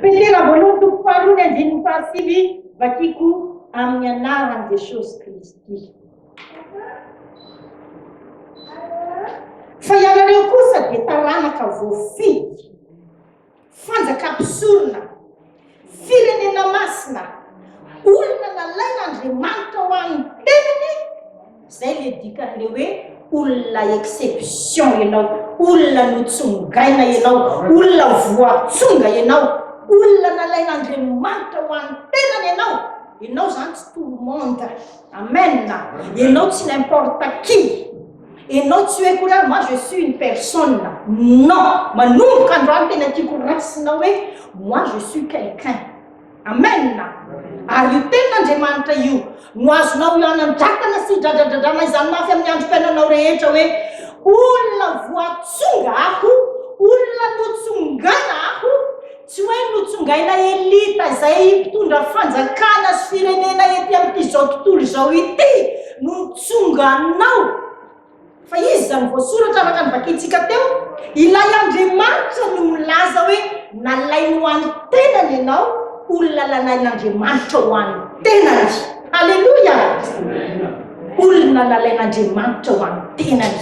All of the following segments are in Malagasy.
Petera voalohany toko faharoa ny andininy fahasivy vakiko amin'ny anaran'i Jesosy Kristy. Fa ianareo kosa dia taranaka voafidy, fanjaka mpisorona, Firenena masina, olona nalain'Andriamanitra ho an'ny teniny, izay le dikan'le hoe olona exception ianao, olona notsongaina ianao, olona voatsonga ianao, olona nalain'Andriamanitra ho an'ny tenany ianao, ianao zany tsy tout le monde, amen, ianao tsy n'importe qui. Et non tsy hoe kory aho moi je suis une personne non manomboka androany tena tiako raisina hoe moi je suis quelqu'un amen ary io ten'Andriamanitra io no azonao ianandratana sy dradradradrana izany mafy amin'ny androm-piainanao rehetra hoe olona voatsonga aho olona notsongana aho Tsy hoe notsongaina elita izay mpitondra fanjakana sy firenena ety amin'izao tontolo izao ity no nitsonga anao, fa izy izany voasoratra araka ny vakintsika teo, ilay Andriamanitra no milaza hoe nalainy ho an'ny tenany ianao, olona lalain'Andriamanitra ho an'ny tenany. Haleloia! Olona nalain'Andriamanitra ho an'ny tenany.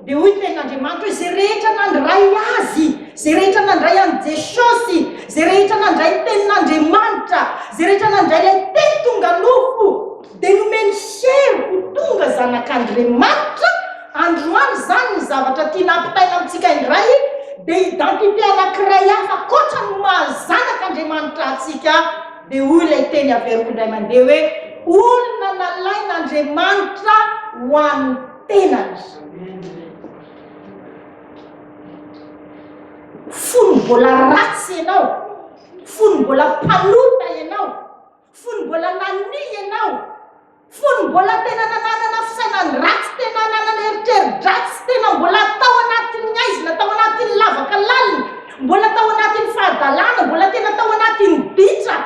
Dia hoy Tenin'Andriamanitra hoe, Izay rehetra nandray Azy, izay rehetra nandray an'i Jesosy, izay rehetra nandray ny Tenin'Andriamanitra, izay rehetra nandray ilay Teny tonga nofo, dia nomeny hery ho tonga zanak'Andriamanitra, androany izany ny zavatra tiana hampitaina amintsika indray, dia identité anankiray hafa ankoatra ny maha zanak'Andriamanitra antsika, dia hoy ilay Teny averiko indray mandeha hoe, Olona nalain'Andriamanitra ho an'ny. tenany. Fony mbola ratsy ianao, fony mbola mpanota ianao, fony mbola nania ianao, fony mbola tena nananana fisainany ratsy, tena nanana eritreri-dratsy, tena mbola tao anatin'ny haizina, tao anatin'ny lavaka lalina, mbola tao anatin'ny fahadalana, mbola tena tao anatin'ny ditra.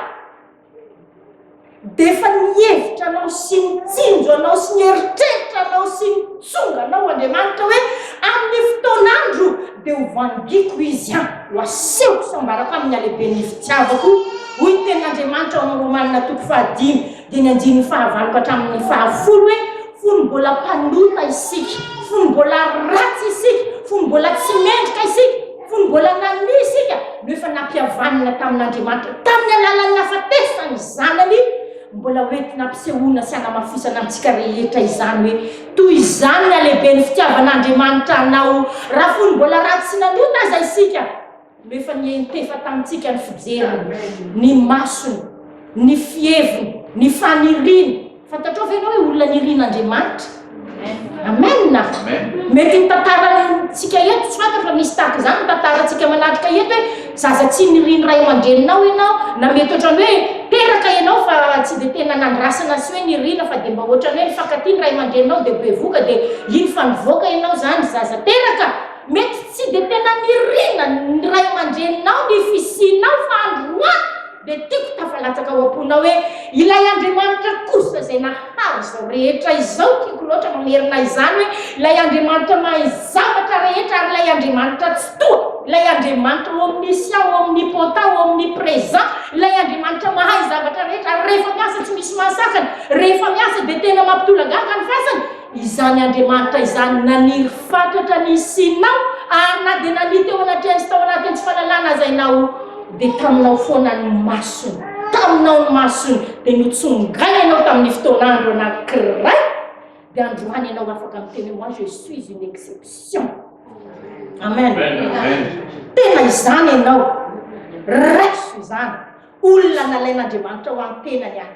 Dia efa ny hevitra anao sy ny tsinjo anao sy ny eritreritra anao sy ny tsonga anao Andriamanitra hoe amin'ny fotoan'andro dia ho vangiako izy an, ho asehoko sambarako amin'ny halehiben'ny fitiavako hoy ny tenin'Andriamanitra ao amin'ny Romanina toko fahadimy dimy andininy fahavaloko hatramin'ny fahafolo hoe fony mbola mpanota isika, fony mbola ratsy isika, fony mbola tsy mendrika isika. Fony mbola nanonia isika no efa nampihavanina tamin'Andriamanitra tamin'ny alalan'ny nahafatesan'ny Zanany, mbola ho entina ampisehoana sy hanamafisana antsika rehetra izany hoe toy izany ny halehiben'ny fitiavan'Andriamanitra anao, raha fony mbola ratsy sy nanota aza isika no efa nientefa tamintsika ny fijeriny, ny masony, ny fiheviny, ny faniriany, Fantatrao ve ianao hoe olona nirin'Andriamanitra? Amen! Mety ny tantarantsika eto, tsy fantatra fa misy tahaka izany ny tantarantsika manatrika eto hoe zaza tsy nirin'ny ray aman-dreninao ianao, na mety ohatran'ny hoe teraka ianao fa tsy dia tena nandrasana sy hoe nirina fa dia mba ohatran'ny hoe nifankatia ny ray aman-dreninao dia bevoka dia iny fa nivoaka ianao izany zaza teraka. Mety tsy dia tena nirina ny ray aman-dreninao ny fisianao fa androany, Dia tiako tafalatsaka ao am-ponao hoe ilay Andriamanitra kosa izay nahary izao rehetra izao, tiako loatra mamerina izany hoe ilay Andriamanitra mahay zavatra rehetra ary ilay Andriamanitra Tsitoha, ilay Andriamanitra omniscient, omnipotent, omnipresent, ilay Andriamanitra mahay zavatra rehetra ary rehefa miasa tsy misy mahasakana, rehefa miasa dia tena mampitolagaga ny fasana. Izany Andriamanitra izany naniry fatratra ny hisianao ary na dia nania teo anatrehan' sy tao anatin' tsy fanalana aza ianao dia taminao foana ny masony, taminao ny masony dia notsongaina ianao tamin' ny fotoan' andro anankiray dia androany ianao afaka miteny hoe moi je suis une exception. Amen. Tena izany ianao. Raiso izany. Olona nalain' Andriamanitra ho an-tenany aho.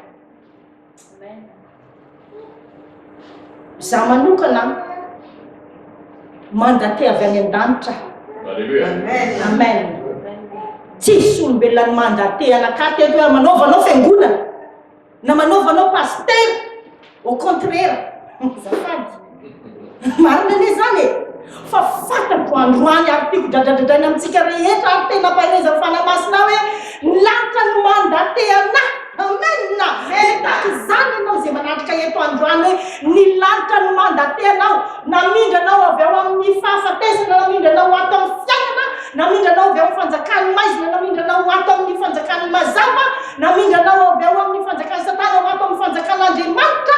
Za manokana mandate avy any an-danitra. Amen. Amen. Tsisy olombelona ny mandate anakate eto hoe manaovanao fiangonana na manaovanao pasteur. Au contraire, zafady. Marina anie izany e! Fa fantatro androany ary tiako dradradradraina amintsika rehetra ary tena ampaherezan'ny Fanahy Masina aho hoe ny lanitra no mandate anah! Amen! Dia tahaka izany ianao izay manatrika eto androany hoe ny lanitra no mandate anao, namindra anao avy ao amin'ny fahafatesana, namindra anao ho ato amin'ny fiainana, namindra anao avy ao amin'ny fanjakan'ny maizina, namindra anao ho ato amin'ny fanjakan'ny mazava, namindra anao avy ao amin'ny fanjakan'i Satana ho ato amin'ny fanjakan'Andriamanitra.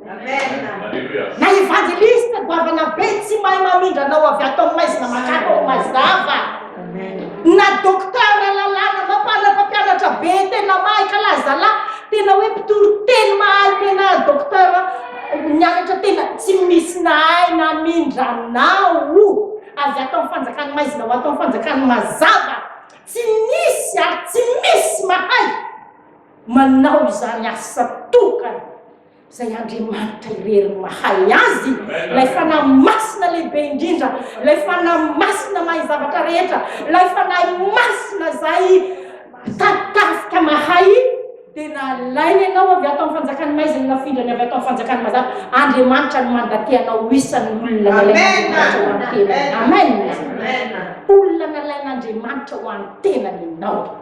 Na evangeliste goavana be tsy mahay mamindra anao avy ato amin'ny maizina makaka ao mazava. Na docteur lalàna mampanana mpampianatra be tena mahay ka lazala tena hoe mpitory teny mahay tena docteur mianatra tena tsy misy nahay namindra anao avy ato amin'ny fanjakan'ny maizina ho ato amin'ny fanjakan'ny mazava. Tsy misy ary tsy misy mahay manao izany asa tokana. Izay Andriamanitra irery no mahay azy, ilay Fanahy Masina lehibe indrindra, ilay Fanahy Masina mahay zavatra rehetra, ilay Fanahy Masina izay tartarika mahay, dia nalainy ianao avy ato amin'ny fanjakan'ny maizina, nafindrany avy ato amin'ny fanjakan'ny mazava. Andriamanitra no mandatea anao ho isan'ny olona nalain'Andriamanitra ho an'ny tenany. Amen. Olona nalain'Andriamanitra ho an'ny tenany ianao.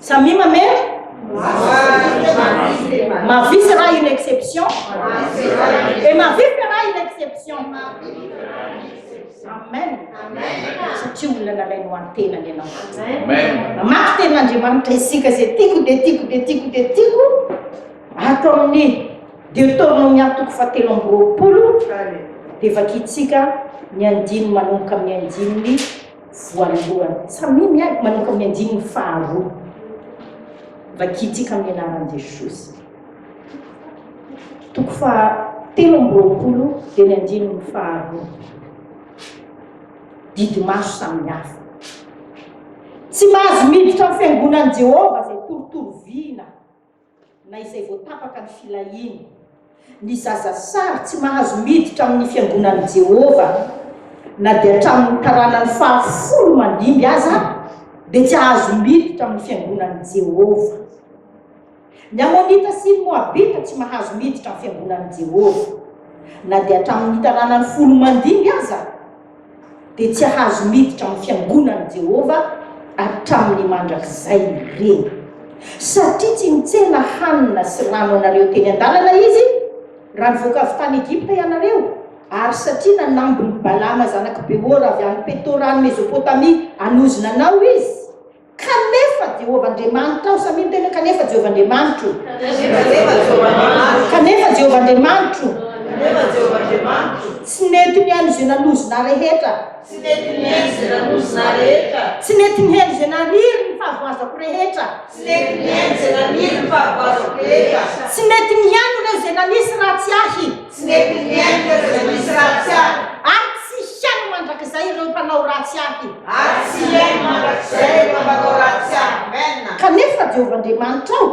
Samia mamely? Ma vie sera une exception? Et ma vie fera une exception? Amen. Satria olona nalainy ho antenany ianao. Mamaky tenin'Andriamanitra isika izay tiako dia tiako dia tiako dia tiako ato amin'ny Deuteronome atoko fahatelo amby roapolo dia vakintsika ny andininy manomboka amin'ny andininy voalohany. Samia miady manomboka amin'ny andininy faharoa. Vakintsika amin'ny anaran'i Jesosy. Toko faha telo amby roapolo dia ny andininy faharoa. Didy maso samihafa. Tsy mahazo miditra amin'ny fiangonan'i Jehovah izay torotoro vina Na izay vao tapaka ny filahiany. Ny zaza sary tsy mahazo miditra amin'ny fiangonan'i Jehovah, na dia hatramin'ny taranany fahafolo mandimby aza, dia tsy hahazo miditra amin'ny fiangonan'i Jehovah. Ny Amonita sy ny Moabita tsy mahazo miditra amin'ny fiangonan'i Jehovah, na dia hatramin'ny taranany folo mandimby aza. dia tsy hahazo miditra amin'ny fiangonan'i Jehovah hatramin'ny mandrakizay ireny. Satria tsy nitsena hanina sy rano anareo teny an-dalana izy, raha nivoaka avy tany Egypta ianareo, ary satria nanambiny Balama zanak'i Beora avy any Petora any Mezopotamia hanozona anao izy, Kanefa Jehovah Andriamanitra aho. Samia miteny hoe, Kanefa Jehovah Andriamanitro. Kanefa Jehovah Andriamanitro. Tsy nety nihaino izay nanozona rehetra. Tsy nety nihaino izay nanozona rehetra. Tsy nety nihaino izay naniry ny fahavoazako rehetra. Tsy nety nihaino izay naniry ny fahavoazako rehetra. Tsy nety nihaino ireo izay nanisy ratsy ahy. Tsy mety mihaino ireo izay misy ratsy ahy. Ary tsy hihaino mandrakizay ireo mpanao ratsy ahy. Ary tsy hihaino mandrakizay ireo mpanao ratsy ahy. Amen. Kanefa Jehovah Andriamanitrao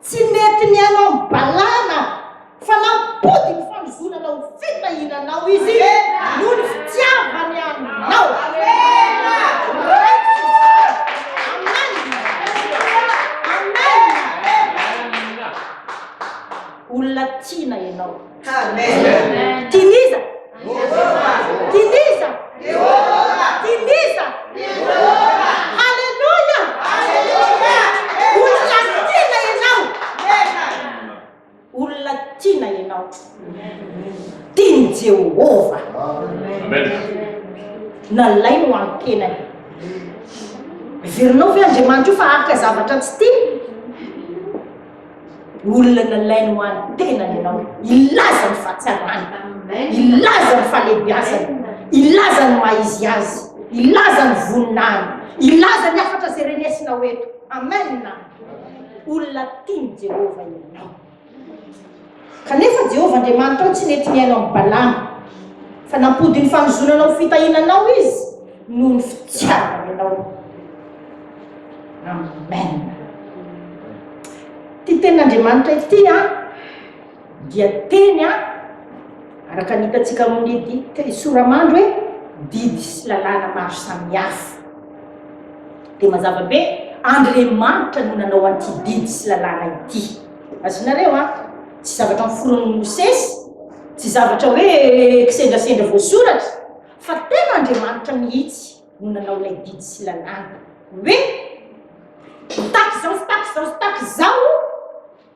tsy mety mihaino amin'ny balahana aho, fa nampodiko fandrozonana ho fitahiananao izy noho ny fitiavany anao. Amen. Amen. Olona tiana ianao. Amen. Tiniza. Tiniza. Tiniza. Haleluya. Olona tiana ianao. Olona tiana ianao. Tian'i Jehovah. Nalainy ho an'ny tenany. Verinao ve Andriamanitra io fa haka zavatra tsy tiany? Olona nalainy ho an'ny tenany ianao. Ilaza ny fahatsarany. Ilaza ny falebiazany. Ilaza ny maizy azy. Ilaza ny voninahiny. Ilaza ny hafatra izay renesinao eto. Amen. Olona tian'i Jehovah ianao. Kanefa Jehovah Andriamanitra tsy nety nihaino an'i Balama fa nampody ny fanozonana ho fitahiana anao izy. noho ny fitiavany anao. Amen. Ty tenin'Andriamanitra ity a dia teny a araka ny hitantsika amin'ny dite soramandro hoe didy sy lalàna maro samihafa. Dia mazava be Andriamanitra no nanao an'ity didy sy lalàna ity. Azonareo a tsy zavatra miforon'ny Mosesy, tsy zavatra hoe kisendrasendra voasoratra Fa tena Andriamanitra mihitsy no nanao ilay didy sy lalàna hoe mitaky izao, mitaky izao, mitaky izao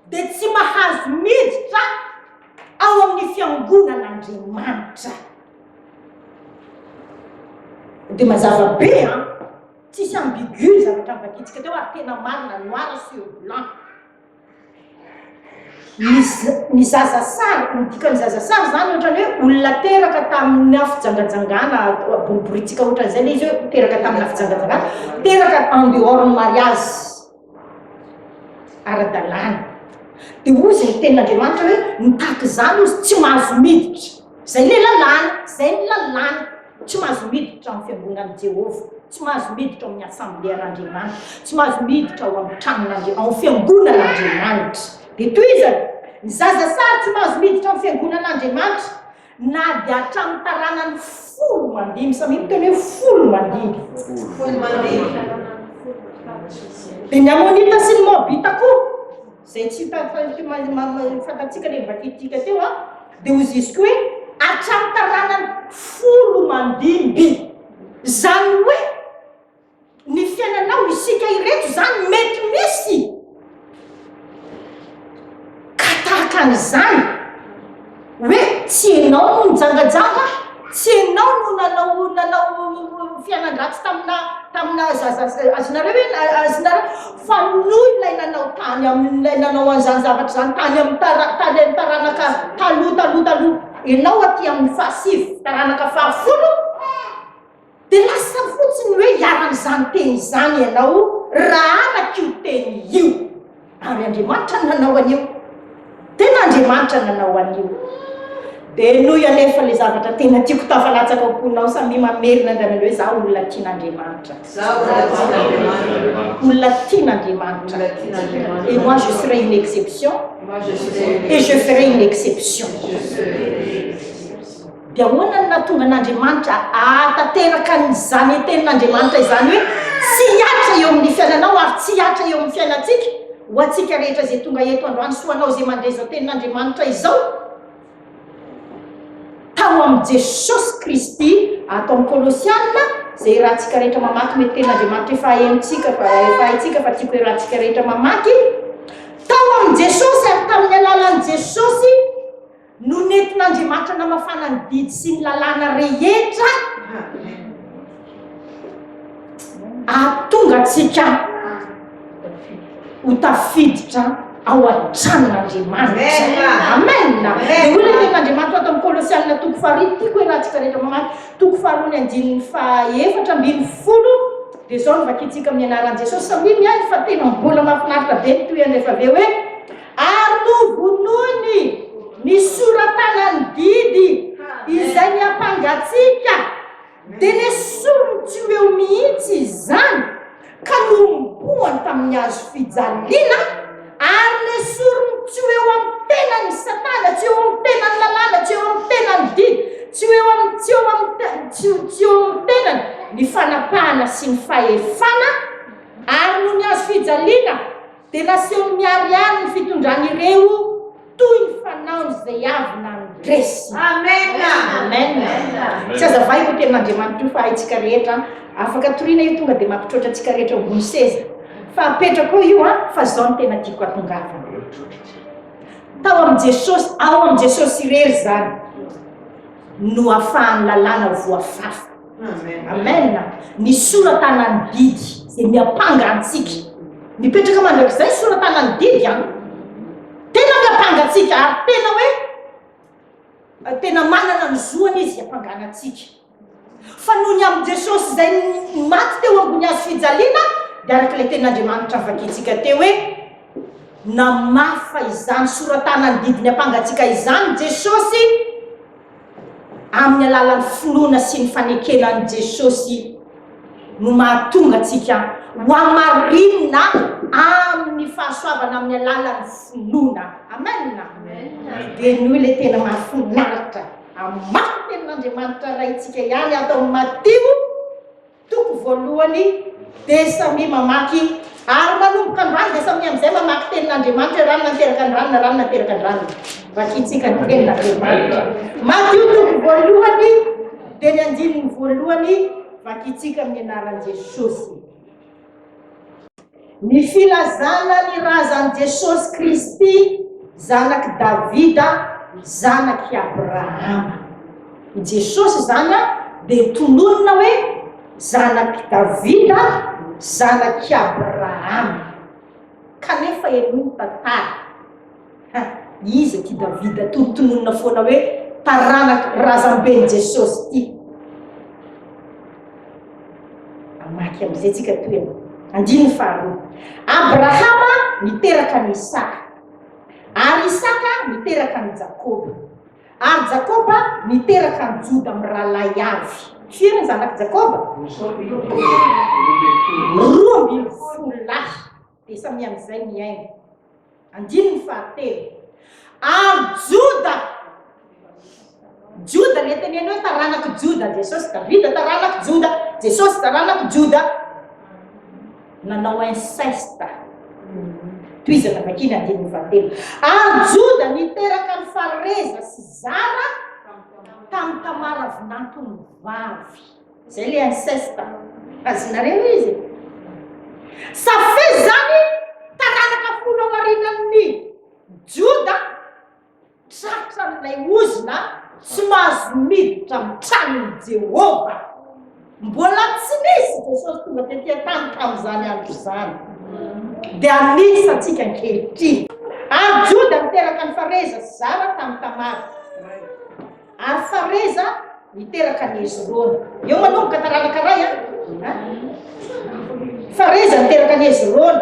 dia tsy mahazo miditra ao amin'ny fiangonan'Andriamanitra. Dia mazava be an, tsisy ambigu ny zavatra nvadintsika teo ary tena marina noir sur blanc. Ny zaza sary, ny dikan'ny zaza sary zany ohatrany hoe olona teraka taminà fijangajangana boriboritsika ohatrany zay le izy hoe teraka taminà fijangajangana, teraka en dehors ny mariazy ara-dalàna, de hoy zay ny tenin'Andriamanitra hoe mitaky izany izy tsy mahazo miditra, zay le lalàna, zay ny lalàna. Tsy mahazo miditra ao amin'ny fiangonan'i Jehovah, tsy mahazo miditra ao amin'ny asamblean'Andriamanitra, tsy mahazo miditra ao amin'ny tranon'Andriamanitra, ao amin'ny fiangonan'Andriamanitra. Dia tohizany, ny zaza sary tsy mahazo miditra amin'ny fiangonan'Andriamanitra, na dia hatramin'ny taranany folo mandimby. Samia miteny hoe folo mandimby. Folo mandimby. Dia ny Amonita sy ny Moabita koa, Izay tsy hita fa ity mali- ma- ma- fantatsika ilay mivakididika teo a, dia hozisiko hoe hatramin'ny taranany folo mandimby. Izany hoe ny fiainanao, isika ireto izany mety misy ka tahaka an'izany. Hoe tsy enao no nijangajanga, tsy enao no nanao nanao fianan-dratsy tamina tamina zaza azinareo ve azinareo fa noho ilay nanao tany amin'ilay nanao an'izany zavatra izany tany amin'ny tara tany amin'ny taranaka taloha taloha taloha enao aty amin'ny fahasivy taranaka fahafolo Dia lasa fotsiny hoe hiara-amin'izany teny izany ianao raha araka io teny io. Ary Andriamanitra no nanao an'io. Tena Andriamanitra no nanao an'io. Dia henoy anefa ilay zavatra tena tiako tafalatsaka ao am-ponao, samia mamerina indray mandeha hoe izaho olona tian'Andriamanitra. Izaho olona tian'Andriamanitra. Olona tian'Andriamanitra. Olona tian'Andriamanitra. Et moi je serai une exception. Moi je serai une exception. Et je ferai une exception. Je ferai une exception. Dia ahoana no nahatonga an'Andriamanitra hahatanteraka an'izany Tenin'Andriamanitra izany hoe tsy hihatra eo amin'ny fiainanao ary tsy hihatra eo amin'ny fiainantsika? Ho antsika rehetra izay tonga eto androany sy ho anao izay mandre izao Tenin'Andriamanitra izao, tao amin'i Jesosy Kristy, ato amin'ny Kolosiana, izay iarahantsika rehetra mamaky, mety Tenin'Andriamanitra efa henontsika fa, efa haintsika fa tiako iarahantsika rehetra mamaky, tao amin'i Jesosy ary tamin'ny alalan'i Jesosy, No nentin'Andriamanitra namafana ny didy sy ny lalàna rehetra hahatonga antsika ho tafiditra ao an-tranon'Andriamanitra. Amen. Dia hoy ilay tenin'Andriamanitra ato amin'ny Kolosianina toko faharoa, tiako hoe raha tsika rehetra mamaky toko faharoa ny andininy fahaefatra ambin'ny folo, dia izao no vakintsika amin'ny anaran'i Jesosy, samia miaiky fa tena mbola mahafinaritra be ny tohiny rehefa avy eo hoe. Ary novonoiny ny sora-tanan'ny didy izay niampanga-tsika, dia nesoriny tsy ho eo mihitsy izany, ka nohomboany tamin'ny hazo fijaliana, ary nesoriny tsy ho eo amin'ny tenany Satana, tsy eo amin'ny tenany lalàna, tsy eo amin'ny tenany didy, tsy ho eo amin'ny, tsy eo amin'ny, tsy, tsy eo amin'ny tenany ny fanapahana sy ny fahefana, ary noho ny hazo fijaliana. Dia nasehony miharihary ny fitondrany ireo toy ny fanaony izay avy nandresy. Amen! Amen! Tsy aza vahiko io tenin'Andriamanitra io fa haintsika rehetra an! Afaka toriana io tonga dia mampitroatra antsika rehetra eo ambony seza. Fa apetrako eo io an! Fa izao no tena tiako hatongavana. Tao amin'i Jesosy, ao amin'i Jesosy irery izany no afahan'ny lalàna voafafa. Amen! Ny sora-tanan'ny didy dia miampanga antsika. Mipetraka mandrakizay sora-tanan'ny didy an. Tena miampanga antsika ary tena hoe tena manana ny zoany izy hiampangana antsika. Fa noho ny amin'i Jesosy izay maty teo ambony hazo fijaliana, dia araka ilay tenin'Andriamanitra vakintsika teo hoe namafa izany sora-tanan'ny didy miampanga antsika izany Jesosy Amin'ny alalan'ny finoana sy ny fanekena an'i Jesosy no mahatonga antsika ho hamarinina amin'ny fahasoavana amin'ny alalan'ny finoana. Amen! Dia noho ilay tena mahafinaritra amin'ny maha-tenin'Andriamanitra Raintsika ihany ato amin'ny Matio, Toko voalohany dia samia mamaky ary manomboka androany dia samia amin'izay mamaky tenin'Andriamanitra eran'ny nateraka ny rano na rano nateraka ny rano. Vakintsika ny tenin'Andriamanitra. Matio toko voalohany dia ny andininy voalohany vakintsika amin'ny anaran'i Jesosy. Ny filazana ny razan'i Jesosy Kristy, zanak'i Davida, zanak'i Abrahama. I Jesosy izany dia tononina hoe zanak'i Davida, zanak'i Abrahama. Kanefa henoy ny tantara. Ka iza ity Davida tonontononina foana hoe taranak razamben'i Jesosy ity? Mamaky amin'izay tsika toy an. Andininy faharoa. Abrahama niteraka an'i Isaka. Ary Isaka niteraka an'i Jakoba. Ary Jakoba niteraka an'i Joda mirahalahy avy. Firy ny zanak'i Jakoba? Roa ambin'ny folo lahy. Dia samy amin'izay mihaino. Andininy fahatelo. Ary Joda, Joda le teneno hoe taranak'i Joda Jesosy, Davida taranak'i Joda, Jesosy taranak'i Joda, nanao inceste, tohizana vakiny andininy fahatelo. Ary Joda niteraka ny Fareza sy Zara tamin'i Tamara vinantony vavy. Zay le inceste a! Azonareo izy e! Ça fait zany taranaka folo ao arinan'ny Joda tratra an'ilay ozona tsy mahazo miditra amin'ny tranon'i Jehovah. Mbola tsy nisy Jesosy tonga tety an-tany tamin'izany andro izany. Dia amidy antsika ankehitriny. Ary Joda niteraka an'i Fareza sy Zara tamin'i Tamara. Ary Fareza niteraka an'i Hezrona. Eo manomboka taranaka iray a. Fareza niteraka an'i Hezrona.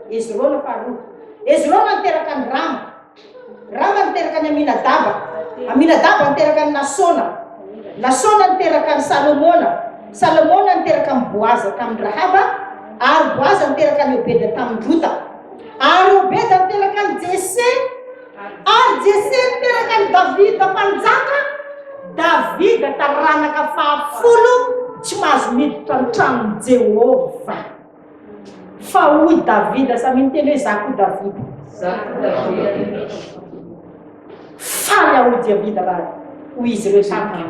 Hezrona faharoa. Hezrona niteraka an'i Rama. Rama niteraka an'i Aminadaba. Aminadaba niteraka an'i Nasona. Nasona niteraka an'i Salomona. Salomona niteraka an'i Boaza tamin'i Rahaba. Ary Boaza niteraka an'i Obeda tamin'i Rota. Ary Obeda niteraka an'i Jese. Ary Jese niteraka an'i Davida mpanjaka, Davida taranaka fahafolo tsy mahazo miditra ny tranon'i Jehovah. Fa hoy Davida, samia miteny hoe za koa Davida. Faly aho hoy Davida raha hoy izy ireo taminy.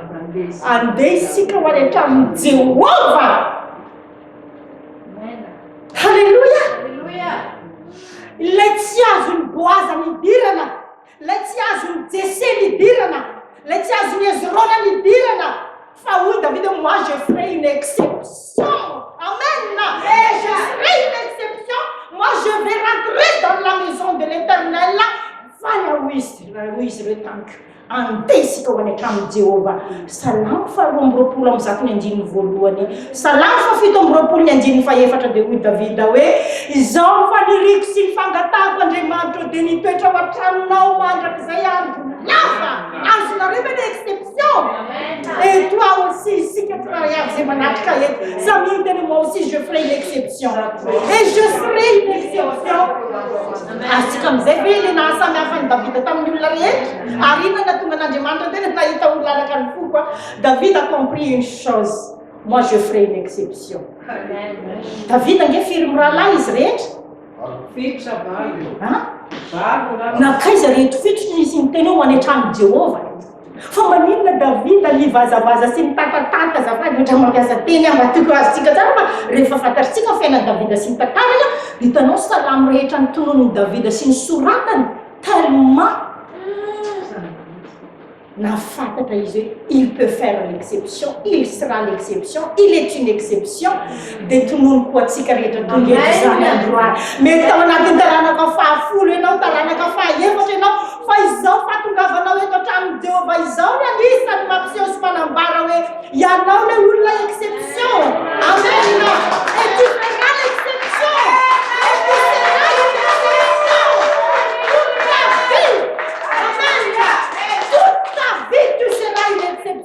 Andeha isika ho any an-tranon'i Jehovah. Haleloia! Ilay tsy azon'i Boaza nidirana, ilay tsy azon'i Jese nidirana, ilay tsy azon'i Hezrona nidirana, fa hoy Davida, moi je ferai une exception, amen, je ferai une exception, moi je vais rentrer dans la maison de l'Eternel, fa na hoy izy, na hoy izy ireo tamiko, Andeha isika ho any an-tranon'i Jehovah. Salamo faharoa amby roapolo amby zato ny andininy voalohany. Salamo fahafito amby roapolo ny andininy fahefatra dia hoy Davida hoe, Izao no faniriako sy ny fangatahako, Andriamanitra ô, dia ny hitoetra ao an-tranonao mandrakizay andro lava. Azonareo ve ilay exception? Et toi aussi, isika tsirairay avy izay manatrika eto, samia miteny hoe moi aussi je ferai une exception. Et je serai une exception. Azontsika amin'izay ve ilay nahasamihafa an'i Davida tamin'ny olona rehetra? Ary inona no nahatonga an'Andriamanitra tena nahita ho lalaka ny foko? a David a compris une chose, moi je ferai une exception. Davida ange firy mirahalahy izy rehetra? Fito sa valo? An? Valo angamba. Nankaiza reto fito no nisy niteny hoe ho any an-tranon'i Jehovah? Fa maninona Davida nivazavaza sy nitatatata azafady ohatra mampiasa teny aho mba tiako azontsika tsara fa rehefa fantatritsika ny fiainan'i Davida sy ny tantarany a hitanao salamo rehetra notononin'i Davida sy nosoratany tellement nahafantatra izy hoe il peut faire l'exception, il sera l'exception, il est une exception Dia tonony koa antsika rehetra tonga eto izany androany. Mety tao anatin'ny taranaka fahafolo ianao, taranaka fahaefatra ianao, fa izao fahatongavanao eto an-tranon'i Jehovah izao no anisan'ny mampiseho sy manambara hoe ianao ilay olona exception. Amena! Et tu feras l'exception! Et tu seras une exception! Toute ta vie! Amena! Toute ta vie, tu seras une exception!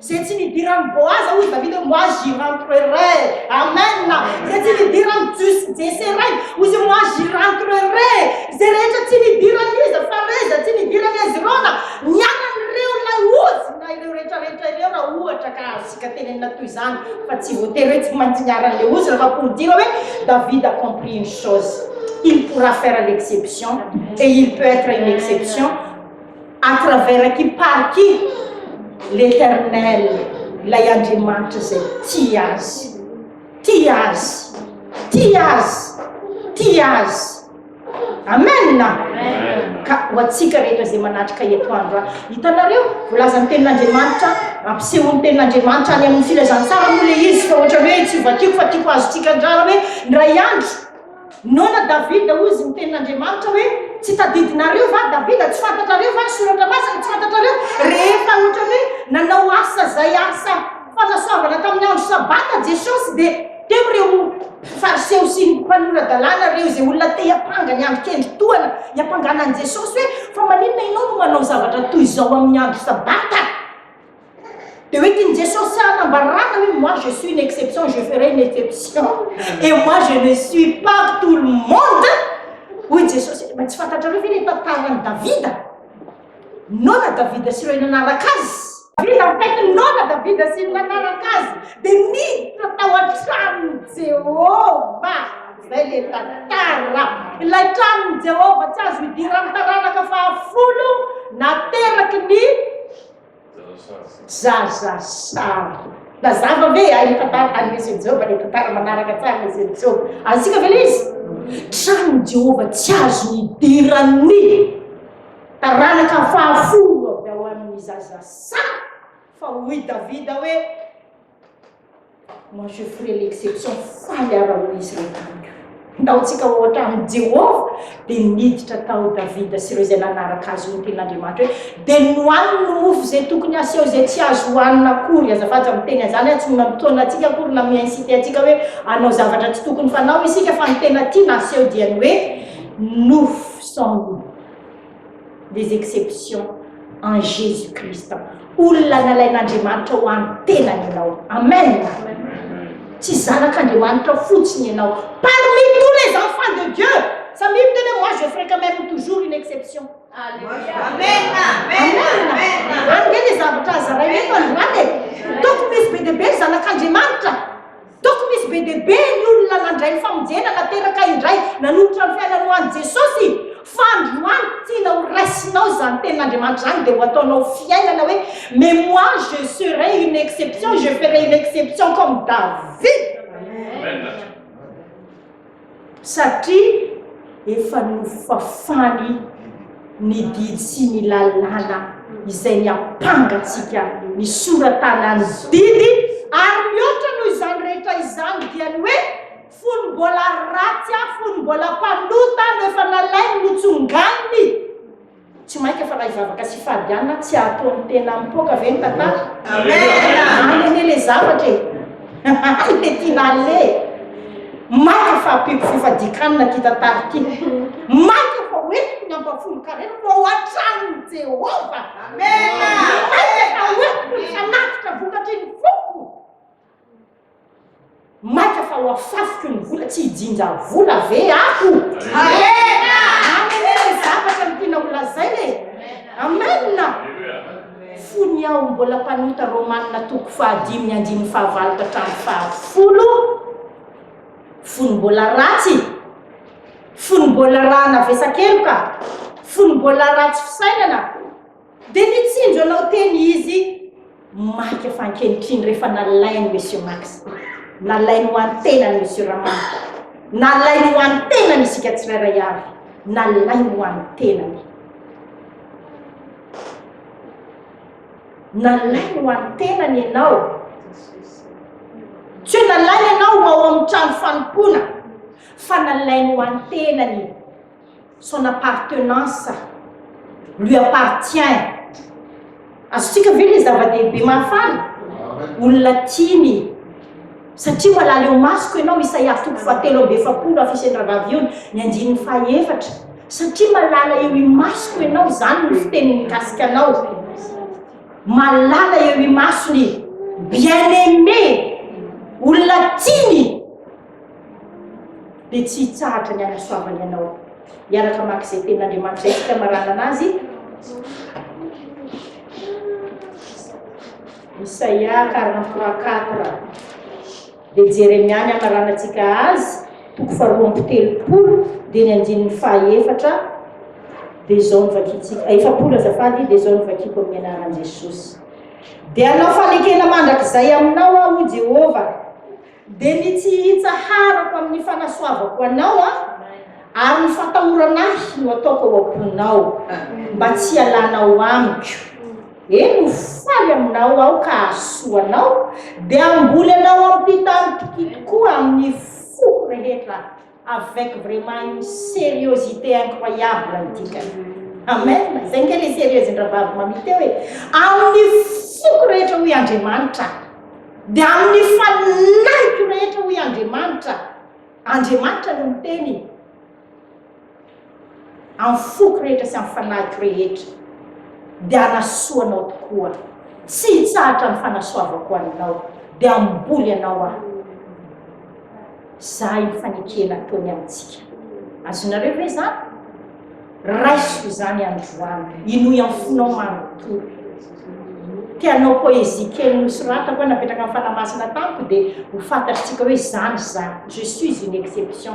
Zay tsy nidiran'i Boaza hoy Davida hoe moi j'irai entrerai. Amen. Zay tsy nidiran'i Jus- Jesse ray hoy izy hoe moi j'irai entrerai. Zay rehetra tsy nidiran'i iza Fareza, tsy nidiran'i Hezrona, ny anan'ireo ilay ody na ireo rehetrarehetra ireo raha ohatra ka azontsika tenenina toy izany fa tsy voatery hoe tsy maintsy niharan'ilay ody raha amporidina hoe David a compris une chose, il pourra faire l'exception et il peut être une exception. à travers qui par qui l'éternel ilay Andriamanitra izay tia azy tia azy tia azy tia azy amen ka ho antsika rehetra izay manatrika eto andro a hitanareo volazan'ny tenin'Andriamanitra ampisehoan'ny tenin'Andriamanitra any amin'ny filazantsara moa le izy fa ohatra hoe tsy vakiko fa tiako azontsika andrara hoe ndray andro Noana Davida, hoy izy, niteny n'Andriamanitra hoe, Tsy tadidinareo va, Davida, tsy fantatrareo va ny soratra masina, tsy fantatrareo, rehefa ohatran'ny hoe nanao asa izay asa fanasoavana tamin'ny andro sabata Jesosy, dia teo ireo Fariseo sy mpanora-dalàna, ireo izay olona te hiampanga ny andro kendry tohana hiampangana an'i Jesosy hoe, Fa maninona ianao no manao zavatra toy izao amin'ny andro sabata? Dia hoentin'i Jesosy tsy hanambarana hoe moi je suis une exception, je ferai une exception et moi je ne suis pas tout le monde. Hoy Jesosy, mba tsy fantatrareo ve ilay tantaran'i Davida? Noana Davida sy ireo nanaraka azy. Davida mitaiky ny noana Davida sy ny nanaraka azy dia niditra tao an-tranon'i Jehovah. Izay ilay tantara. Ilay tranon'i Jehovah tsy azo idiran'ny taranaka fahafolo nateraky ny Zaza sary. Nazava ve ilay tantara tany Mesin'i Joba, ilay tantara manaraka tsara Mesin'i Joba? Azontsika ve ilay izy? Tranin'i Jehovah tsy azony idiran'ny taranaka fahafolo avy ao amin'ny zaza sary, fa hoy Davida hoe, Moi je ferai l'exception faly ara hoy izy ireo tamiko. Ndaontsika ohatra amin'i Jehovah, dia niditra tao Davida sy ireo izay nanaraka azy hoy ny tenin'Andriamanitra hoe, Dia nohaniny ny mofo izay tokony haseho izay tsy azo hohanina akory. Azafady izany miteny an'izany ary tsy mila mitaona antsika akory na mi-inciter antsika hoe hanao zavatra tsy tokony fanao isika fa ny tena tiana haseho dia ny hoe nofo sans loup. des exceptions en Jesus Christ olona nalain'Andriamanitra ho an'ny tenany ianao amen tsy zanak'Andriamanitra fotsiny ianao parmi tous les enfants de Dieu samia miteny hoe moi je ferai quand même toujours une exception amen amen amen ary le zavatra azaraina eto androany e tokony misy be dia be ny zanak'Andriamanitra Tokony hisy be dia be ny olona nandray ny famonjena nateraka indray nanolotra ny fiainany ho an'i Jesosy. Fa androany tiana ho raisinao izany tenin'Andriamanitra izany dia ho ataonao fiainana hoe mais moi je serai une exception, je ferai une exception comme David. Amen. Satria efa nofafany ny didy sy ny lalàna izay niampanga antsika nisoratana ny didy, ary mihoatra noho izany rehetra izany dia ny hoe fony mbola ratsy aho, fony mbola mpanota aho no efa nalainy, notsonganiny. Tsy maika fa raha hivavaka sy hifady ihany na tsy hatoa ny tena mipoaka ve ny tantara? Any anie le zavatra e! Any le tiana aleha e! Maika fa ampiako fifadian-kanina ty tantara ty! Maika fa hoentiko ny ampahafolon-karerako ao an-tranon'i Jehovah! Maika fa hoentiko ny fanatitra vokatry ny foko! Maika fa ho afafiko ny vola tsy hijinja vola ve aho? Amena! Any anie ny zavatra ny tianao holazaina e! Amena! Fony aho mbola mpanota Romana toko fahadimy andininy fahavalo ka hatramin'ny fahafolo, fony mbola ratsy, fony mbola raha navesakeloka, fony mbola ratsy fisainana, Dia nitsinjo anao teny izy maika fa ankehitriny rehefa nalain'i Monsieur Max, nalainy ho an'ny tenany Monsieur Ramanto, nalainy ho an'ny tenany isika tsirairay avy, nalainy ho an'ny tenany. Nalainy ho an'ny tenany ianao. Tsy hoe nalainy ianao ho ao amin'ny trano fanompoana fa nalainy ho an'ny tenany. son appartenance lui appartient azontsika ve le zava-dehibe mahafaly olona tiany satria malala eo masoko ianao isaia toko fahatelo amby efapolo afiseny ravavy ny andininy fahaefatra satria malala eo imasoko ianao izany ny fiteny mikasika anao malala eo imasony bien aimé olona tiany dia tsy hitsahatra ny hanasoavany anao. Miaraka maka izay tenin'Andriamanitra isika maranana azy. Isaia 43:4 dia Jeremia ny amaranantsika azy toko faharoa amby telopolo dia ny andininy fahaefatra dia izao ny vakitsika eh, efapolo azafady dia izao ny vakiko amin'ny anaran'i Jesosy dia anao fanekena mandrakizay aminao aho Jehovah Dia ny tsy hitsaharako amin'ny fanasoavako anao ary ny fatahorana ahy no ataoko ao am-ponao, mba tsy hialanao amiko. Eny, ho faly aminao aho ka hahasoa anao, dia hamboly anao amim-pitari-pitia tokoa amin'ny foko rehetra aho. Avec vraiment une seriosité incroyable ny dikany. Amen! Izay nge le serieuxn-dRavavy Mamy teo e! Amin'ny foko rehetra hoy Andriamanitra, dia amin'ny fanahiko rehetra hoy Andriamanitra, Andriamanitra no miteny. Amin'ny foko rehetra sy amin'ny fanahiko rehetra, dia hanasoa anao tokoa. Tsy hitsahatra ny fanasoavako anao, dia hamboly anao Aho. Zahay ny fanekena ataony amintsika. Azonareo ve izany? Raisiko izany androany. Inoy amin'ny fonao manontolo. Te hanao poésie kely nosoratako hoe napetraka amin'ny Fanahy Masina tamiko, dia ho fantatritsika hoe izany izany. Je suis une exception.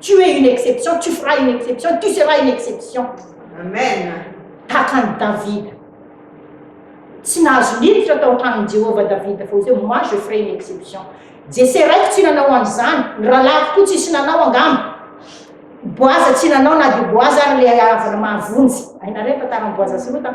Tu es une exception, tu feras une exception, tu seras une exception. Amen. Tahaka an'i Davida. Tsy nahazo niditra tao an-tranon'i Jehovah Davida fa hoe moi je ferai une exception. Jese raiko tsy nanao an'izany, ny rahalahiko koa tsisy nanao angamba. Boaza tsy nanao na dia Boaza ary ilay havana mahavonjy. Hainareo ny tantaran'i Boaza sy Rota?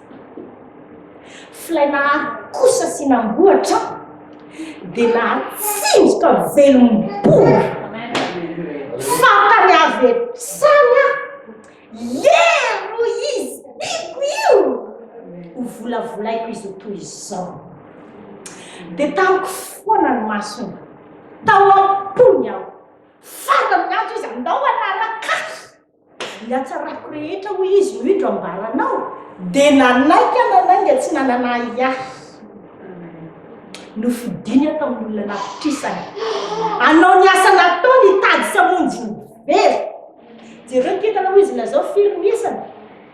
Flay Nahary kosa sy namboatra dia nahatsinjoka velom-bolo fantany avy hatrany aho. Yeeh ro izy tiako io! ho volavolaiko izy ho toy izao. Dia tamiko foana ny masony, tao am-pony aho, fantany ny antso izy, andao hanaraka ahy. Ny hatsarako rehetra, hoy izy, no indro ambaranao, dia nanaiky an'Anainga tsy nanana ahy ahy. Nofidiny aho tamin'olona nafitrisany. Hanao ny asa nataony, hitady sy hamonjy ny very. Jereo ny kintana, hoy izy, lazao firy ny isany.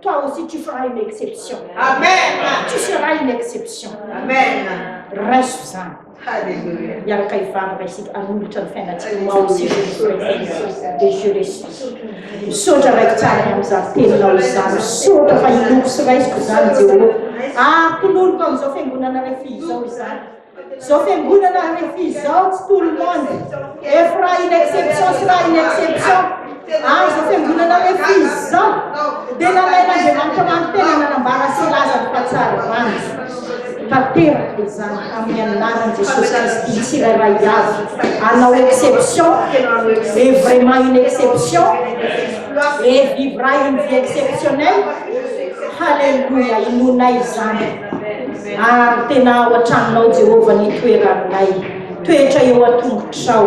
Toi aussi tu feras une exception. Amen. Tu seras une exception. Amen. Raiso izany. Alléluia. Miaraka hivarina isika hanolotra ny fiainantsika ho ao isika de je respire. Misaotra raiky tsara ny amin'izany teninao izany. Misaotra fa hiloko sy raisiko izany Jehovah. Ary toloriko amin'izao fiangonana rehefa izao izany. Zao fiangonana rehefa izao tsy tout le monde ef raha une exception sy raha une exception ary zao fiangonana rehefa izao dia nalain'Andriamanitra manotena nanambara sy nilaza ny fahatsarany tanteraka izany amin'ny anaran'i Jesosy Kristy tsirairay avy hanao exception et vraiment une exception et vivra une vie exceptionnelle Alléluia, inoanay izany Ary tena ao an-tranonao, Jehovah, ny toeranay. Toetra eo an-tongotrao,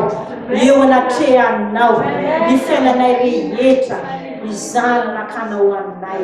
eo anatrehanao, ny fiainanay rehetra, izany nakanao ho anay.